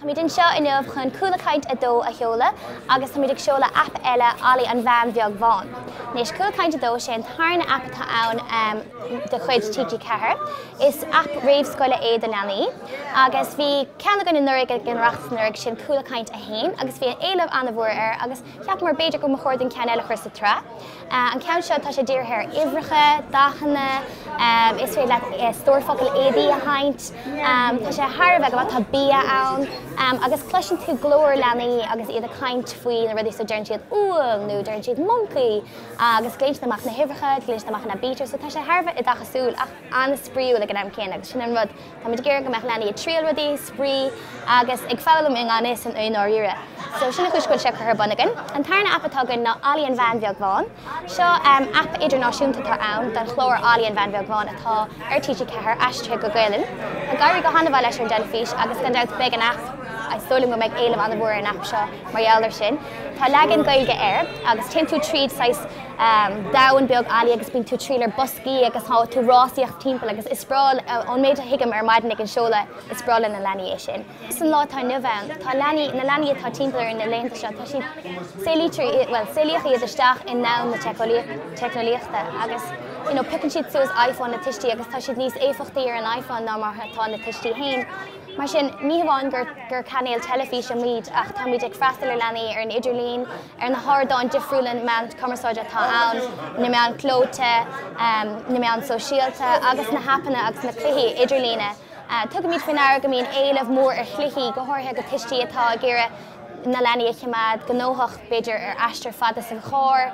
Táimid anseo inniu chun Cúla Caint 2 a sheoladh agus táimid ag seoladh aip eile Olly an Veain Bheag Bhán. Anois Cúla Caint 2 sé an tarna aip atá ann de chuid TG4. Is aip réamhscoile é do leanaí agus bhí ceann againn anuraidh ag an Oireachtas anuraidh sin Cúla Caint 1 agus bhí éileamh an-mhór air agus Cheapamar b'fhéidir go mba chóir dúinn ceann eile a chur sa tsraith. An ceann seo, tá sé dírithe ar uimhreacha, dathanna, is féidir leat stór focal, ABC a sheinnt. Tá sé thar a bheith go, tá bia ann agus cloiseann tú glór leanaí agus iad ag caint faoi na rudaí, so deireann siad 'úll' nó deireann siad 'moncaí' agus glaonn siad amach na huimhreacha, glaonn siad amach an aibítir, so tá sé thar a bheith oideachasúil ach an-spraíúil ag an am céanna agus sin an rud Táimid ag iarraidh go mbeadh leanaí ag triail rudaí, ag spraoi agus ag foghlaim i ngan fhios dóibh i ndáiríre. So sin an chúis go bhfuil sé curtha ar bun againn. An tarna aip atá againn ná Olly an Veain Bheag Bhán. Seo aip idirnáisiúnta atá ann don chlár Olly an Veain Bheag Bhán atá ar TG4, aistrithe go Gaelainn. Ag éirí go han-mhaith leis ar an dteilifís agus gan dabht beidh an aip agus is dóigh liom go mbeidh éileamh an-mhór ar an aip seo mar gheall ar sin. Tá leagan Gaeilge air agus téann tú tríd saghas. domhan beag Olly agus bíonn tú ag triall ar boscaí agus tá tú ag rásaíocht timpeall agus is breá ón méid a thuigim ar maidin ag an seoladh, is breá leis na leanaí é sin. Agus an lá atá inniu ann, tá leanaí, na leanaí atá timpeall orainn na laethanta seo, tá siad, saolaítear iad, bhuel, saolaíodh iad isteach i ndomhan na teicneolaíochta agus, you know, piocann siad suas iPhone na tuistí agus tá siad níos éifeachtaí ar an iPhone ná mar atá na tuistí féin. Mar sin, ní hamháin gur cainéal teilifíse muid ach táimid ag freastal ar leanaí ar an idirlíon, ar na hardáin difriúla meán cumarsáide atá ann, na meáin chlóite, na meáin shóisialta agus na haipeanna agus na cluichí idirlín. Tugann muid faoi ndeara go mbíonn éileamh mór ar chluichí, go háirithe ag tuistí atá ag iarraidh na leanaí a choimeád gnóthach, b'fhéidir ar aistear fada san charr.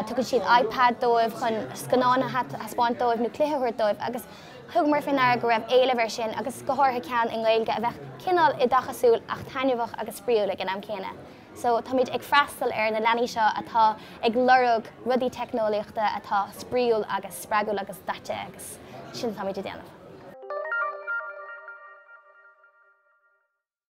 Tugann siad iPad dóibh chun scannáin a thaispeáint dóibh nó cluiche a thabhairt dóibh agus thugamar faoi ndeara go raibh éileamh ar sin agus go háirithe ceann i nGaeilge a bheadh cineál oideachasúil ach taitneamhach agus spraíúil ag an am céanna. So táimid ag freastal ar na leanaí seo atá ag lorg rudaí teicneolaíochta atá spraíúil agus spreagúil agus daite agus sin atáimid a dhéanamh.